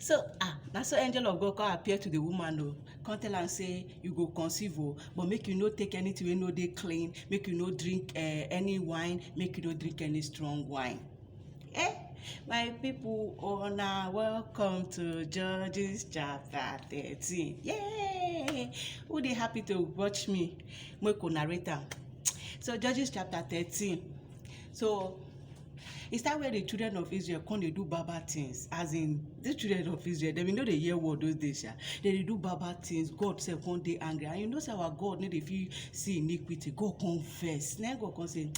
So ah, na so angel of God come appear to the woman o, come tell am say you go conceive o, but make you no take anything wey no dey clean, make you no drink uh, any wine, make you no drink any strong wine. Eh, my people, una welcome to Judges chapter 13. Yay! Who dey happy to watch me? Make una rate am. So Judges chapter 13. So E start where di children of Israel come dey do bad bad things as in dis children of Israel dem bin no dey hear word those days sha dem dey do bad bad things God sef come dey angry and you know say our God no dey fit see iniquity God come vex na God come say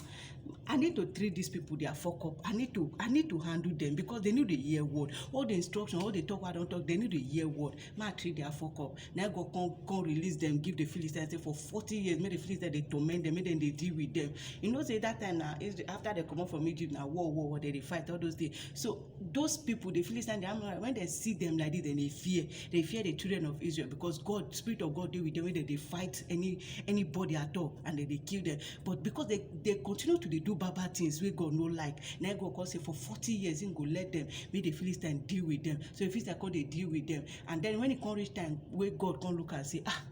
I need to treat these people their fuck up I need to I need to handle them because dem no dey hear word all the instruction all the talk wey I don talk dem no dey hear word ma treat their fuck up na go come come release them give the philistines say for forty years make the philistines dey torment them make them dey deal with them you know say that time na after they comot from egypt na war war war they dey fight all those things so those people the philistines the amorites when they see them like this they dey fear they fear the children of israel because god spirit of god dey with them wey dem dey fight any anybody at all and dem dey kill them but because they they continue to dey do bad bad things wey God no like na God come say for forty years him go let them make the Philistines deal with them so the Philistines come dey deal with them and then when e come reach time wey God come look am say ah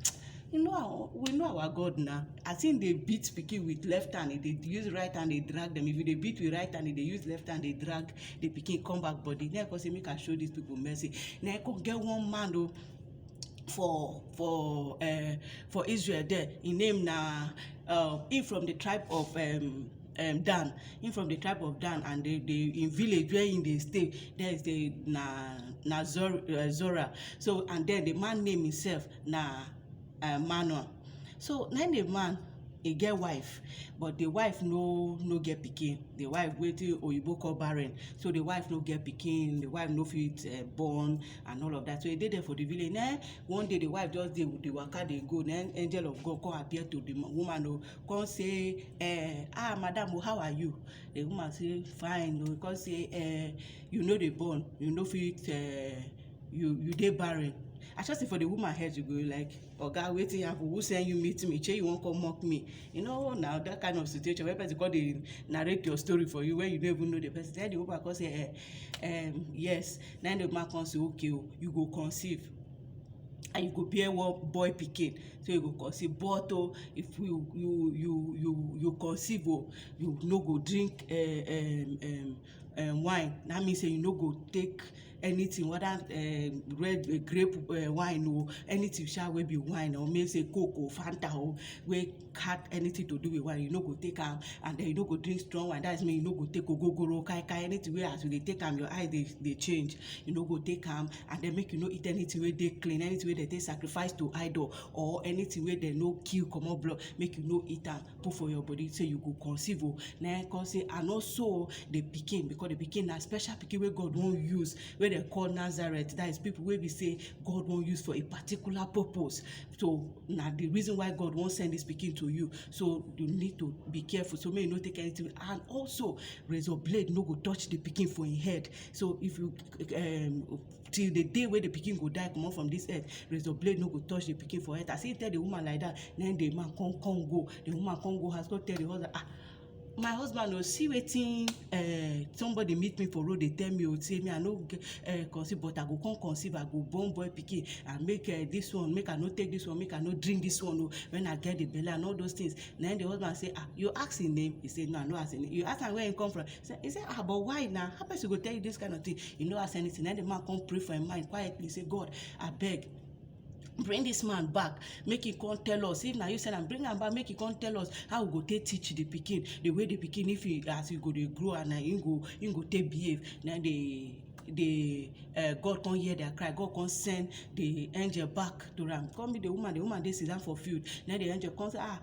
you know our we know our God na as him dey beat pikin with left hand he dey use right hand dey drag them if you dey beat with right hand he dey use left hand dey drag the pikin come back body na him come say make I show these people mercy na him come get one man o oh, for for um for Israel there. Im name na um im from the tribe of um um Dan. Im from the tribe of Dan and the the im village where im dey stay there is the na na Zor um Zorah. So and then the man name himself na um Manoah. So na im the man e get wife but the wife no no get pikin. The wife wetin Oyinbo call barren. So the wife no get pikin, the wife no fit um born and all of that so e dey there for the village na im one day the wife just dey dey waka dey go na im angel of God come appear to the woman o come say eh ah madam o how are you the woman say fine o come say eh you no dey born you no fit eh you you dey barren I sure say for the woman head she go like oga wetin happen who send you meet me shey you wan come mock me you know na that kind of situation wey person come dey narrate your story for you when you no even know the person then the woman come say eh, eh, um, yes na the woman come say okay o oh, you go conceive and you go bear one boy pikin so you go conceive but o oh, if you you you you you conceive o oh, you no go drink uh, um, um, um wine na mean say you no go take anything whether um red um grape um wine o anything sha wey be wine or make say coke o fanta o wey had anything to do with wine you no go take am and then you no go drink strong wine that's mean you no go take ogogoro kai kai anything wey as you dey take am your eye dey dey change you no go take am and then make you no eat anything wey dey clean anything wey dem take sacrifice to idol or anything wey dem no kill comot blood make you no eat am put for your body say you go conceive o na him come say and also the pikin because the pikin na special pikin wey God wan use wey dem call Nazareth that is people wey be say God wan use for a particular purpose so na the reason why God wan send this pikin to you so you need to be careful so make you no take anything and also razor blade no go touch the pikin for him head so if you um till the day wey the pikin go die comot from this earth razor blade no go touch the pikin for head as he tell the woman like that na him the man come come go the woman come go house come tell the husband ah my husband o see wetin uh, somebody meet me for road dey tell me o say me i no get uh, conceive but i go come conceive i go born boy pikin and make uh, this one make i no take this one make i no drink this one o when i get the belle and all those things na him the husband say ah you ask him name he say no i no ask him name you ask am where he come from say he say ah but why na how person go tell you this kind of thing you no ask anything then the man come pray for him mind quietly say god abeg bring this man back make he come tell us if na you send am bring am back make he come tell us how we go take teach the pikin the way the pikin if he as he go dey grow and na him go him go take behave na the the uh, God come hear their cry. God come send the angel back to am. Come meet the woman. The woman dey sit down for field. Then the angel come say, ah,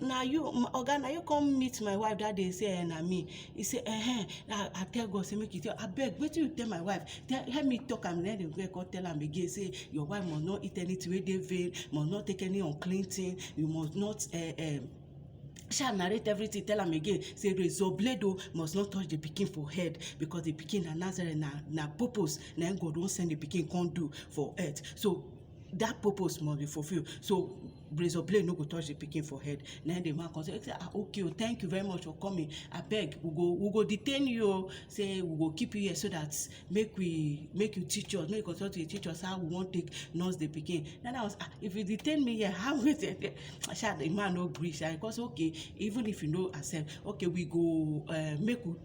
na you oga na you come meet my wife that day say eh na me he say eh na i tell god say make you tell abeg wetin you tell my wife tell help me talk am then the girl come tell am again say your wife must not eat anything wey dey vain must not take any unclean thing you must not uh, uh, sha narrate everything tell am again say razor blade o must not touch the pikin for head because the pikin na nazareth na na purpose na im god wan send the pikin come do for earth so that purpose must be fulfilled so razor blade no go touch the pikin for head na the man come say ah okay o thank you very much for coming abeg we go we go detain you o say we go keep you here so that make we make you teach us make you continue to dey teach us how we wan take nurse the pikin then i was ah if you detain me here how we take take sha the man no gree sha he come say okay even if you no accept okay we go uh, make we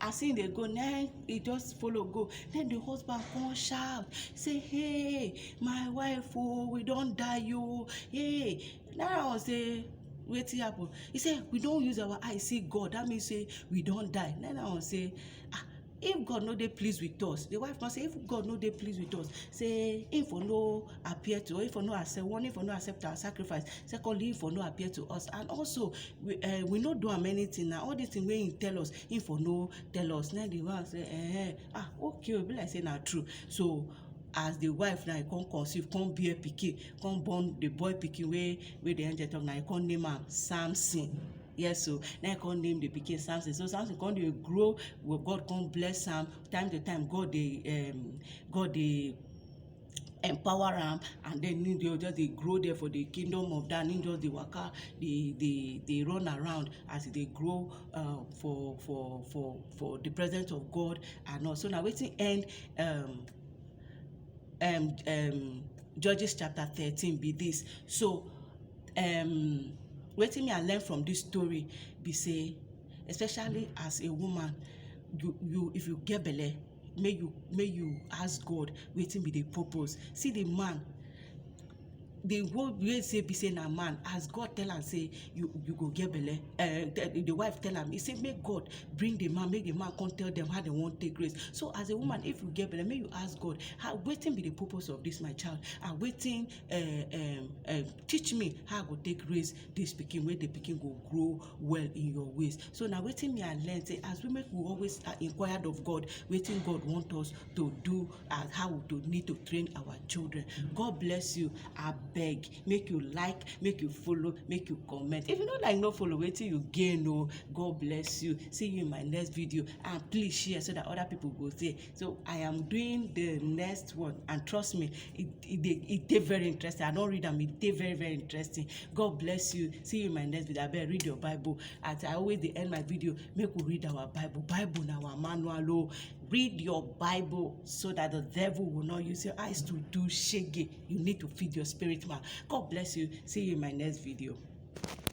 as him dey go na him e just follow go na him the husband come shout say hey my wife oo we don die oo hey na that one say wetin happen he say we don use our eye see God that mean say we don die na that one say ah if God no dey please with us the wife come say if God no dey please with us say him for no appear to us him for no accept one him for no accept our sacrifice secondly him for no appear to us and also we uh, we no do am anything na all this thing wey him tell us him for no tell us na him the wife say eh ah okay o be like say na true so as the wife now e come conceive come bear pikin come born the boy pikin wey wey the angel talk na e come name am Samson yes o na e come name the pikin Samson so Samson come dey grow God come bless am time to time God dey um God dey empower am and den im go just dey grow there for the kingdom of Dan im just dey waka dey dey dey run around as e dey grow um for for for for the presence of God and all so na wetin end um um um judges chapter thirteen be this so um wetin me I learn from this story be sey especially as a woman you you if you get belle make you make you ask God wetin be the purpose see the man the whole way say be say na man as God tell am say you you go get belle uh, the, the wife tell am he say make God bring the man make the man come tell them how they wan take grace so as a woman if you get belle make you ask God how wetin be the purpose of this my child and wetin uh, um, uh, teach me how I go take raise this pikin wey the pikin go grow well in your ways so na wetin me i learn say as women we always uh, inquired of god wetin god want us to do and how we to need to train our children god bless you abeg make you like make you follow make you comment if you no like no follow wetin you gain o oh, god bless you see you in my next video and please share so that other people go see so i am doing the next one and trust me it it dey it dey very interesting i don read am it dey very very interesting god bless you see you in my next video abeg read your bible as i always dey end my video make we read our bible bible na our manual o oh. read your bible so that the devil will not use your eyes to do shege you need to feed your spirit man god bless you see you in my next video.